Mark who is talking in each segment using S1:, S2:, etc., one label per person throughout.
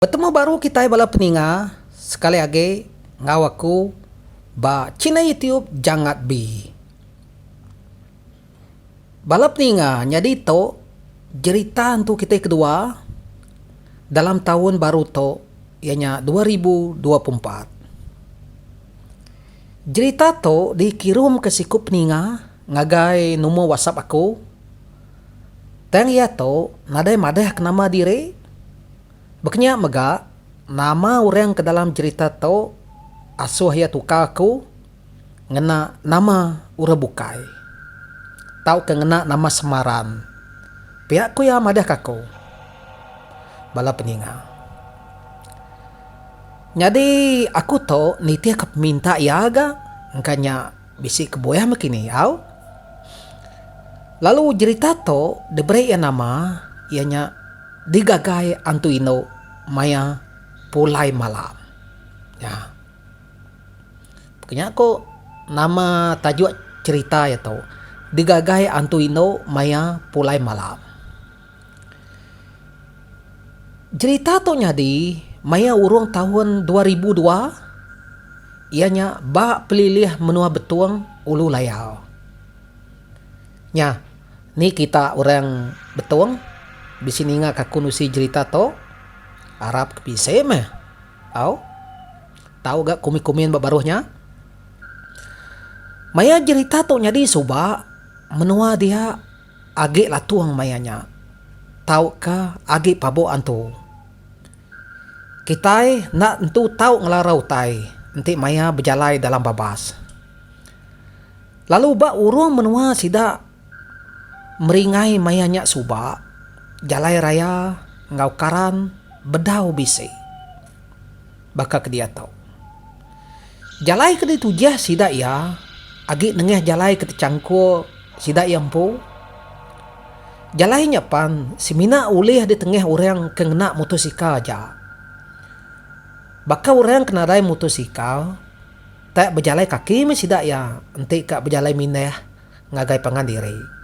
S1: Betemu baru kitai bala peninga sekali agi enggau aku ba china youtube jangat bi. Bala peninga nyadi to jerita entu kitai kedua dalam taun baru to iya nya dua ribu dua puluh empat. Jerita to di kirum ke siku peninga ngagai numur whatsapp aku tang iya to nadai madah ke nama diri. Bekenya mega, nama orang ke dalam jerita tu asuh iya tukar aku ngena nama orang bukai tauka ngena nama semaran. Pia ku iya madahka aku bala peninga. Nyadi aku tu nitihka peminta iya ga engka nya Bisi ke buah maki ni au. Lalu jerita tu diberi iya nama iya nya Digagai Antu Indu Maya Pulai Malam. Nya. Pekeh nya ku nama tajuk jerita iya tu Digagai Antu Indu Maya Pulai Malam. Jerita tu nyadi maya urung taun dua ribu dua iya nya ba pelilih menua Betong, Ulu Layau. Nya ni kita orang Betong bisi ninga ka aku nusi jerita tu arap ke bisi meh tau. Tau ga komen komen ba baruh nya. Maya jerita tu nyadi suba menua dia Agi latung maya nya tauka agi pabok antu. Kitai enda entu tau ngelara utai enti maya bejalai dalam babas. Lalu ba urung menua sida meringai maya nya suba jalai raya enggau karan bedau bisi. baka ke diatau. Jalai ke ditujih sida iya agi nengah jalai ke techangkul sida iya empu. Jalai nya pan semina ulih ditengah orang ke ngena motosikal aja. Baka orang ke nadai motosikal tak bejalai kaki meh sida iya enti ka bejalai mindah ngagai pangan diri.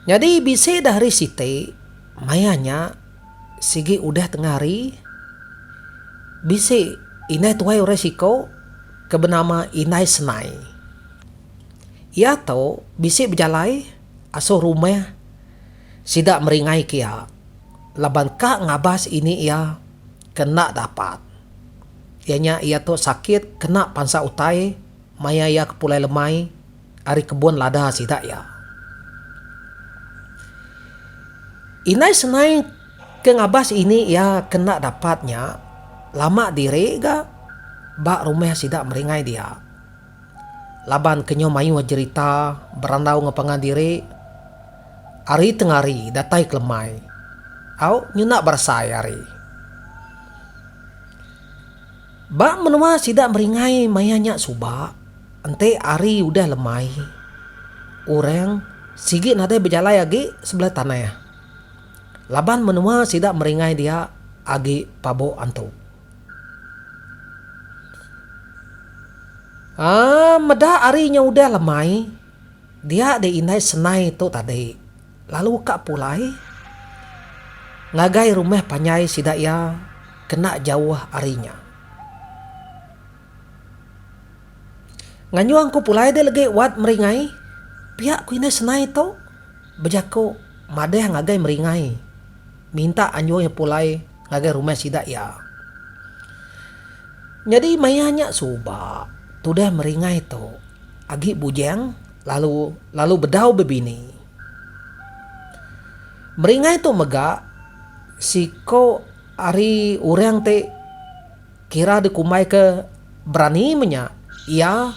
S1: Nyadi bisi dah hari siti, maya nya sigi udah tengah hari, bisi indai tuai orang siko ke benama Indai Senai. Iya tu bisi bejalai asoh rumah sida meringai ke iya laban ka ngabas ini iya ke enda dapat iya nya iya tu sakit kena pansa utai maya iya ke pulai lemai. ari kebun lada sida iya. Indai senai ke ngabas ini iya ke enda dapat nya lama diri ga ba rumah sida meringai dia. Laban ke nyau mayuh jerita berandau enggau pangan diri ari tengah hari datai kelemai au nyuna berasai ari. Ba menua sida meringai maya nya suba, enti hari udah lemai, orang sigi nadai bejalai agi sebelah tanah laban menua sida meringai dia agi pabu antu. Meda hari nya udah lemai, dia di indai senai tu tadi, Lalu ka pulai ngagai rumah panjai sida iya kena jauh ari nya. Nganyung ku pulai deh legi wat meringai pia ku indai senai tu bejaku madah ngagai meringai minta anjung iya pulai Ngagai rumah sida iya. Nyadi maya nya suba tudah meringai tu agi bujang lalu lalu bedau bebini. Meringai tu mega siko ari orang ti kira dikumbai ke berani menya iya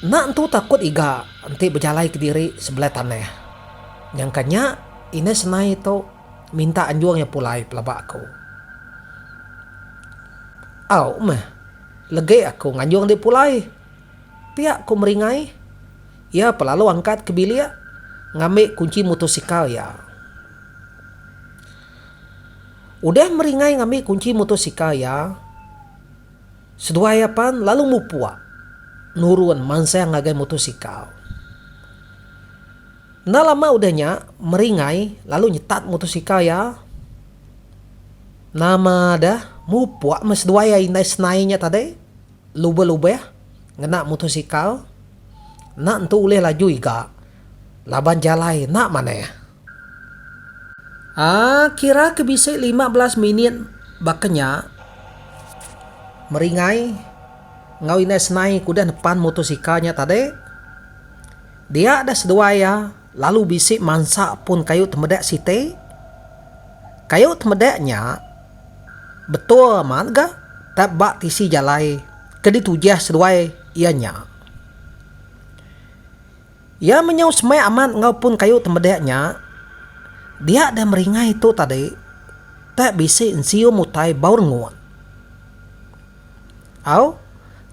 S1: enda entu takut iga enti bejalai kediri sebelah tanah. Nyangka nya indah senai tu. Minta anjung iya pulai pelaba aku. Au meh. Legi aku nganjung dek pulai. Pia ku meringai. Iya pun lalu angkat ke bilik ngambi kunchi motosikal iya. Udah meringai ngambi kunchi motosikal iya, seduai iya pan lalu mupuk nurun mansang ngagai motosikal. Enda lama udah nya, Meringai lalu nyetat mutosikal iya. Nama deh, mupuk meh seduai iya indai senai nya tadi, lubeh-lubeh ngena mutosikal. Enda entu ulih laju iga laban jalai enda manah. Aa, kira ke bisi lima belas minit baka nya, Meringai enggau indai senai ke udah nepan mutosikal nya tadi. Dia deh seduai iya lalu bisi mansa pun kayu temedek siti. Kayu temedek nya betul amat ga tap ba tisi jalai ke ditujih seduai iya nya. Iya menyau semai amat enggau pun kayu temedek nya. Dia deh meringai tu tadi tap bisi ensium utai bau rengut. Au,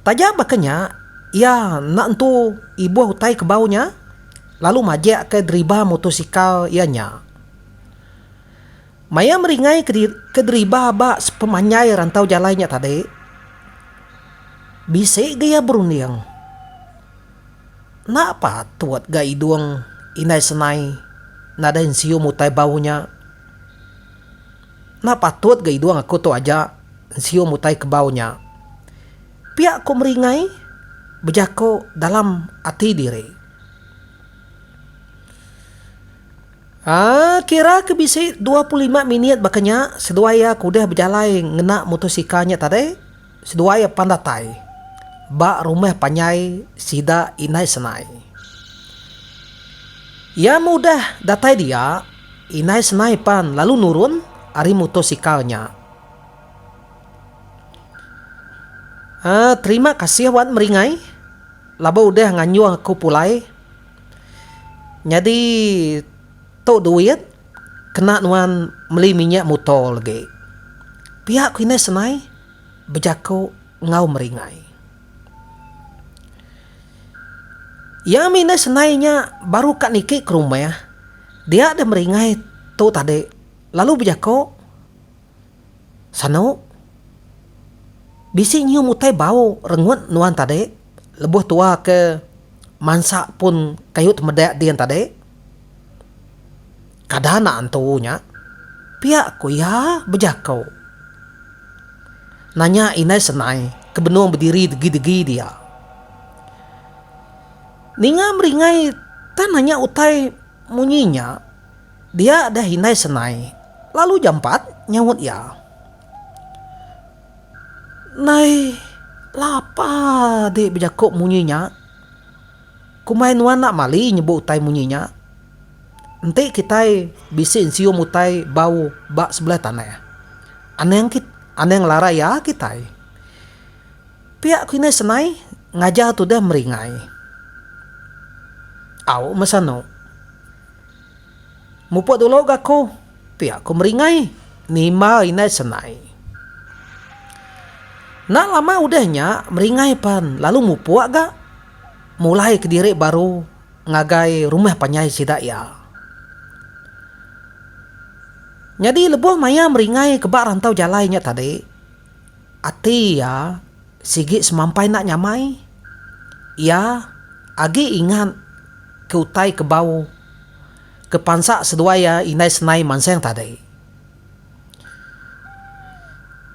S1: taja baka nya, iya enda entu ibuh utai kebau nya lalu majikka deriba mutosikal iya nya. Maya meringai ke deriba ba sepemanjai rantau jalai nya tadi, bisi ga iya berunding. Enda patut ga idung Indai Senai nadai nesium utai bau nya. Enda patut ga idung aku tu aja nsium utai kebau nya. Pia ku Meringai bejaku dalam ati diri. Haa kira ke bisi dua puluh lima minit baka nya seduai iya ke udah bejalai ngena mutosikal nya tadi seduai iya pan datai ba rumah panjai sida Indai Senai. Iya meh udah datai dia. Indai senai pan lalu nurun ari mutosikal nya. Haa terima kasih wan meringai laba udah nganjung aku pulai. Nyadi tu duit kena nuan meli minyak mutor legi. Pia ku indai senai bejaku enggau meringai. Iya mih indai senai nya baru ka niki ke rumah, dia deh meringai tu tadi lalu bejako, Sanu, bisi nyium utai bau rengut nuan tadi lebuh tua ke mansa pun kayuh temeda din tadi. Kada anak entu nya, pia ku iya bejako. Nanya indai senai ke benung bediri degi-degi dia. Ninga meringai tang nanya utai munyi nya, dia deh indai senai lalu jampat nyaut iya. Ndai lapa dik bejako munyi nya. Kumbai nuan enda mali nyebut utai munyi nya. Enti kitai bisi nsium utai bau ba sebelah tanah, anang kit anang larai iya kitai. Pia ku inai senai ngajar tudah meringai. Au meh sanu. Mupuk dulu ga ku, pia ku meringai, nimba inai senai. Enda lama udah nya meringai pan lalu mupuk ga mulai kediri baru. ngagai rumah panjai sida iya. Nyadi lebuh maya meringai ke ba rantau jalai nya tadi, ati iya sigi semampai enda nyamai. Iya agi ingat ke utai ke bau ke pansa seduai iya indai senai mansang tadi.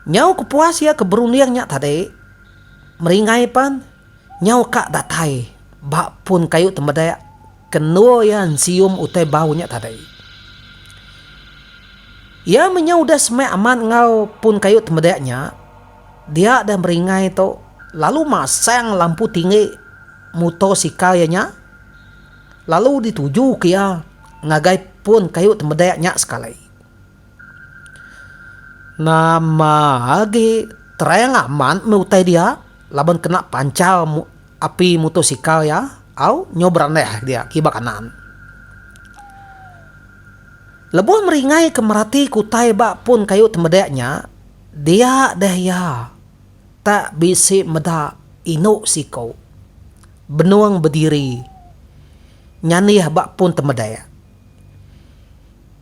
S1: Nyau kepuas iya ke berunding nya tadi, meringai pan. Nyau ka datai ba pun kayu temedek ke endur iya ensium utai bau nya tadi. Iya menyau udah semai amat enggau pun kayu temedek nya, dia deh meringai tu lalu masang lampu tinggi muto sikal iya nya lalu dituju ke iya ngagai pun kayu temedek nya sekali. Nama agi terang amat meh utai dia laban kena panchar api motosikal iya au nyau berandah dia kiba kanan. Lebuh meringai ke merati ke utai ba pun kayu ti meda nya, dia deh iya tak bisi meda inu siko benung bediri nyanih ba pun ti meda.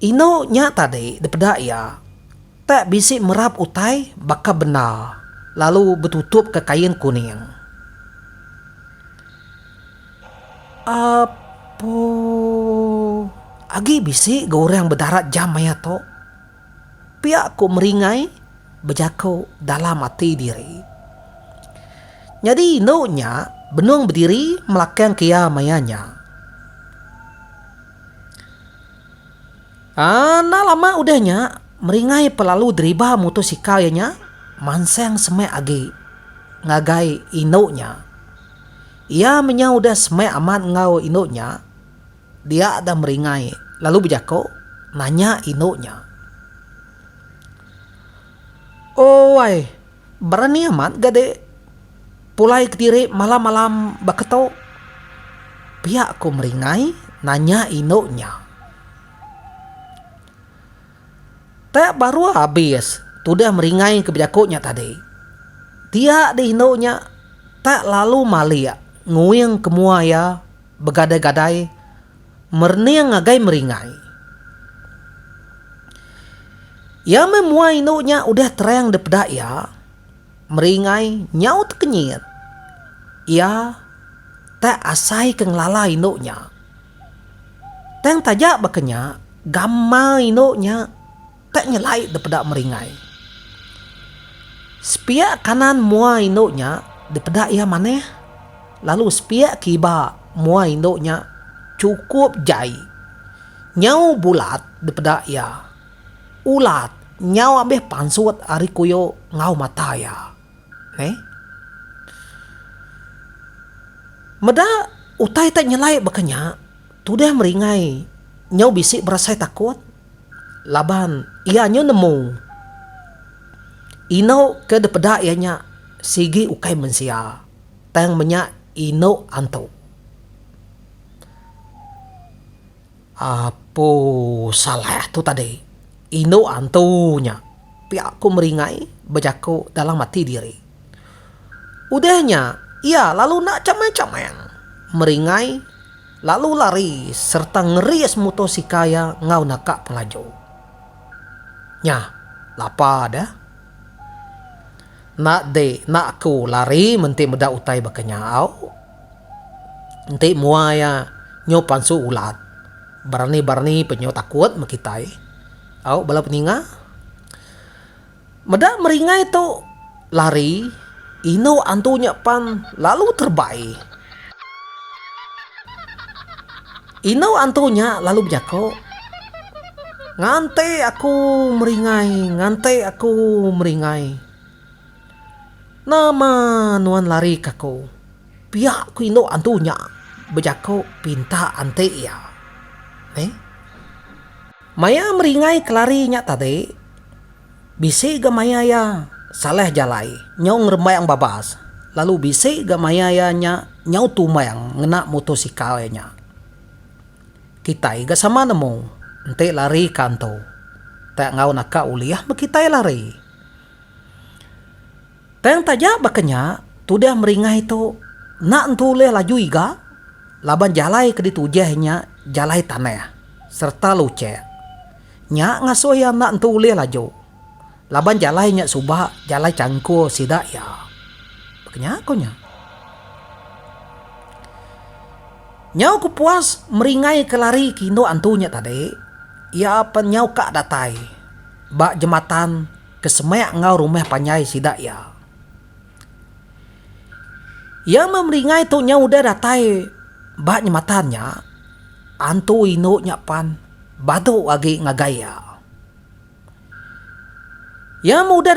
S1: Inu nya tadi dipeda iya, tak bisi merap utai baka bendar lalu betutupka kain kuning. Apu, agi bisi ga orang bedarat jam maya tu. Pia ku Meringai bejaku dalam ati diri. Nyadi indu nya benung bediri melakangka iya maya nya. Enda lama udah nya, Meringai pa lalu deriba mutosikal iya nya mansang semak agi ngagai indu nya. Iya menyau udah semak amat enggau indu nya. Dia dah meringai lalu bejako nanya indu nya. Ooi, berani amat ga dek pulai kediri malam-malam baka tu? Pia ko meringai nanya indu nya. Te baru abis tudah meringai ke bejako nya tadi. Dia deh indu nya tak lalu malik nguing ke mua iya. Begadai-gadai merning ngagai meringai. Iya meh mua indu nya udah terang dipeda iya, meringai nyau tekenyit. Iya tak asai ke ngelala indu nya. Tang taja baka nya, gamal indu nya. Tak nyelai dipeda meringai. Sepiak kanan mua indu nya dipeda iya manah, lalu sepiak kiba mua indu nya chukup jai nyau bulat dipeda iya. Ulat nyau abih pansut ari kuyo enggau mata iya. Neh. Meda utai tak nyelai baka nya, tudah meringai nyau bisi berasai takut. Laban iya nyu nemu inuk ke dipeda iya nya sigi ukai mensia, tang menya inuk antu. Apu Salah tu tadi, inuk antu nya pia ku meringai bejaku dalam ati diri. Udah nya, iya lalu enda chamang-chamang meringai. Lalu lari sereta ngeris mutosikal iya enggau naka pengelaju. Nya, lapa deh. Enda di, enda aku lari menti meda utai baka nya au. Enti mua iya nyu pansu ulat, berani-berani pe nyu takut meh kitai. Au bala peninga. Meda meringai tu lari, indu antu nya pan lalu terbai. Indu antu nya lalu bejaku, Ngante aku meringai, ngante aku meringai. Nama nuan lari ke aku? pia ku indu antu nya bejaku pinta enti iya. Neh. Maya meringai kelari nya tadi, bisi ga maya iya salah jalai nyau ngerembang babas lalu bisi ga maya iya nya nyau tumbang ngena motosikal iya nya. Kitai ga sama nemu, enti lari ka antu, tak enggau naka ulih meh kitai lari. Tang taja baka nya, tudah meringai tu enda entu ulih laju iga laban jalai ke ditujah inya jalai tanah sereta luchek. Nya ngasuh iya enda entu ulih laju laban jalai nya suba jalai changkul sida iya. Baka nya ku nya. Nyau ku puas meringai ke lari ke indu antu nya tadi, iya apan nyau ka datai ba jematan. Ke semak enggau rumah panjai sida iya. Iya meh meringai tu nyau udah datai ba nyematan nya, antu indu nya pan badu agi ngagai iya. Iya meh udah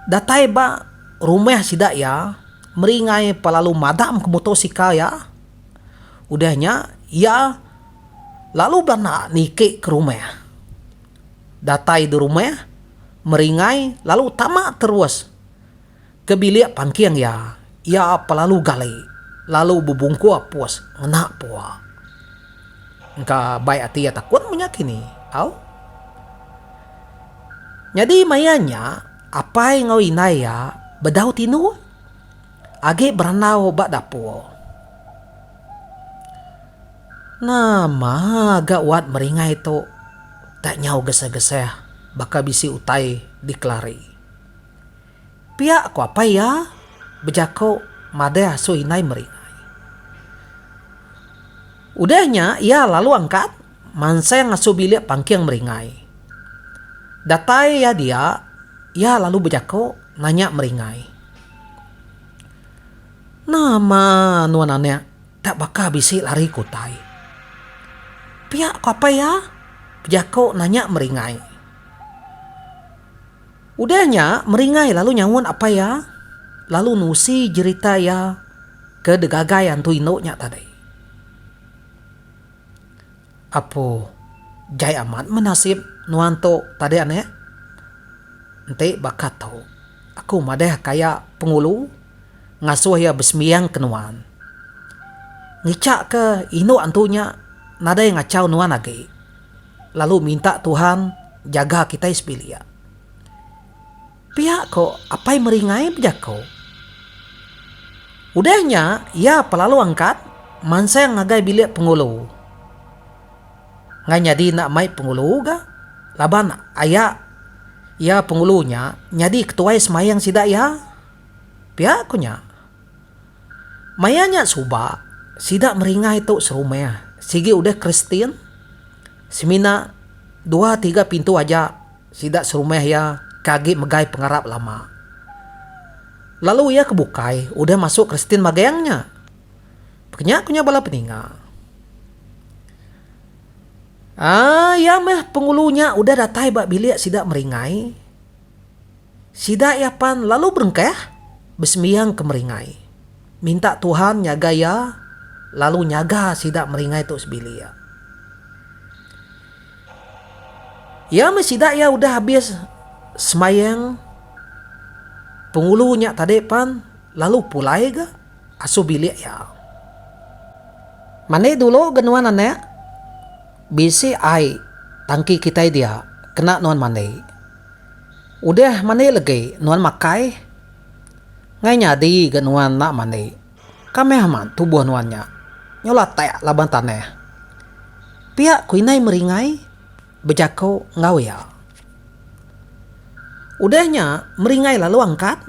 S1: datai ba rumah sida iya meringai pa lalu madam ke motosikal iya. Udah nya iya lalu belanak niki ke rumah. Datai di rumah, meringai lalu tama terus ke bilik pangking iya. Iya pelalu gali lalu bebungkur pus ngena pua. Engka bai ati iya takut menya kini. Au. Nyadi maya nya, apai enggau indai iya bedau tinu agi berandau ba dapur. Nama ga wat meringai tu tak nyau gesah-gesah baka bisi utai dikelari. Pia ko apai iya bejako madah asu indai meringai. Udah nya iya lalu angkat mansang asu bilik pangking meringai. Datai iya dia iya lalu bejako nanya meringai. Nama nuan anak. Enda baka bisi lari ke utai. Pia ko apai iya, Jako nanya Meringai. Udah nya Meringai lalu nyaut apai iya lalu nusi jerita iya ke digagai antu indu nya tadi. Apu, Jai amat meh nasib nuan tu tadi anek. Enti baka tu, aku madah ka iya Pengulu ngasuh iya besembiang ke nuan. Ngicha ke indu antu nya nadai ngachau nuan agi lalu minta Tuhan jaga kitai sebilik. Pia ko Apai Meringai bejako. Udah nya iya pelalu angkat mansang ngagai bilik pengulu. Ngai nyadi enda mai pengulu ga laban aya iya pengulu nya nyadi ketuai semayang sida iya. Pia ko nya. Maya nya suba sida Meringai tu serumah sigi udah Kristian semina dua tiga pintu aja. Sida serumah iya ke agi megai pengarap lama. Lalu iya ke bukai udah masuk Kristian magang nya. Pekenya ku nya bala peninga. Aa, iya meh pengulu nya udah datai ba bilik sida meringai. Sida iya pan lalu berengkah besembiang ke meringai. Minta Tuhan nyaga iya lalu nyaga sida meringai tu sebilik. Iya meh sida iya udah abis semayang pengulu nya tadi pan lalu pulai ga asuh bilik iya. Mani dulu ga nuan anak bisi ai tangki kitai dia kena nuan mandi. Udah mandi legi nuan makai ngai nyadi ga nuan enda mandi. Kamih amat tubuh nuan nya nyulah tek laban tanah. Pia ku indai Meringai bejaku enggau iya. Udah nya Meringai lalu angkat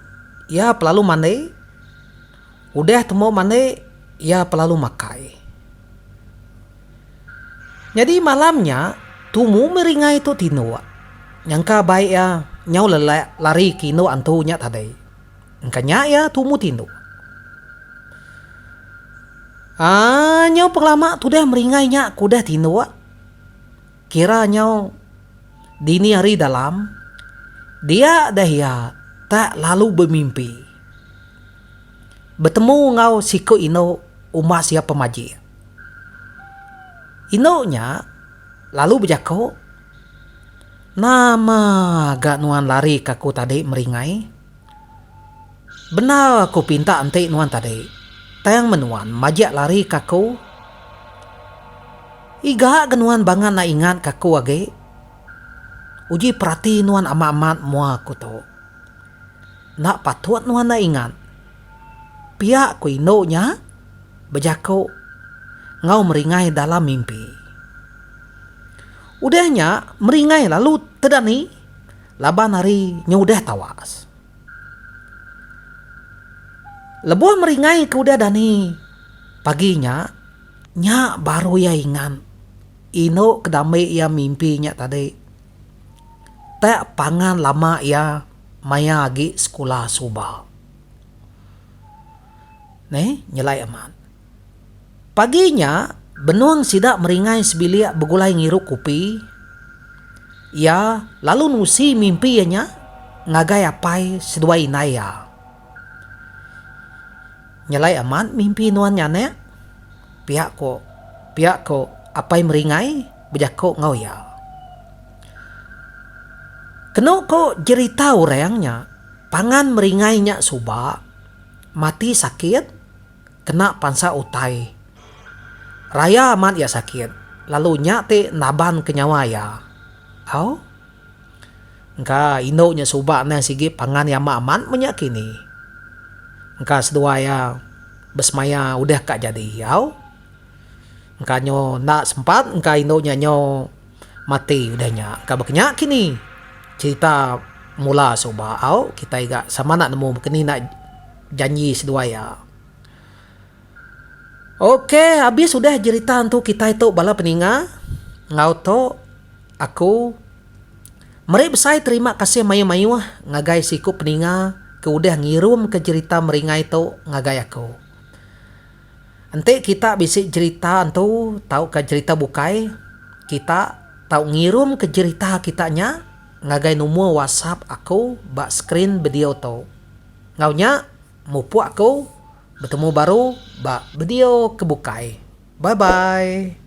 S1: iya pelalu mandi. Udah tembu mandi iya pelalu makai. Nyadi malam nya tumu Meringai tu tinduk nyangka bai iya nyau lelak lari ke indu antu nya tadi. Engka nya iya tumu tindu. Aa nyau pengelama tudah meringai nya ke udah tindu. Kira nyau dini hari dalam dia dah iya tak lalu bemimpi betemu enggau siku indu uma sia pemajik. Indu nya lalu bejaku, Nama ga nuan larika aku tadi meringai? Bendar aku pinta enti nuan tadi, tang men nuan majak lari ke aku, iga ga nuan bangan enda ingat ke aku agi? Uji perati nuan amat-amat mua aku tu. Enda patut nuan enda ingat, pia ku indu nya bejaku enggau meringai dalam mimpi. Udah nya meringai lalu tedani. Laban ari nya udah tawas. Lebuh meringai ke udah dani pagi nya, nya baru iya ingat inu ke dambe iya mimpi nya tadi. Tak pangan lama iya maya agi sekula suba. Neh, nyelai amat. Pagi nya, benung sida meringai sebilik begulai ngirup kupi. Iya lalu nusi mimpi iya nya ngagai apai seduai indai iya. Nyelai amat mimpi nuan nya anak, pia ko pia ko apai meringai bejako enggau iya. Keno ko jerita orang nya, pangan meringai nya suba mati sakit. Kena pansa utai. Raya amat iya sakit, lalu nya ti nabanka nyawa iya. Au? Engka, indu nya suba anang sigi pangan iya amat-amat meh nya kini. Engka seduai iya besemaya udah ka jadi. Au? Engka nyu enda sempat engka indu nya nyu mati udah nya. Engka baka nya kini cherita mula suba. Au? Kitai ga sama enda nemu baka ni enda. Janji seduai iya. Ok habis udah jerita entu kitai tu bala peninga enggau tu aku meri besai terima kasih mayuh-mayuh ngagai siku peninga ke udah ngirumka jerita meringai tu ngagai aku. Enti kita bisi jerita entu tauka jerita bukai kita tau ngirumka jerita kita nya ngagai numor whatsapp aku ba skrin bedio tu. Enggau nya, mupuk aku betemu baru ba video ke bukai. Bye bye.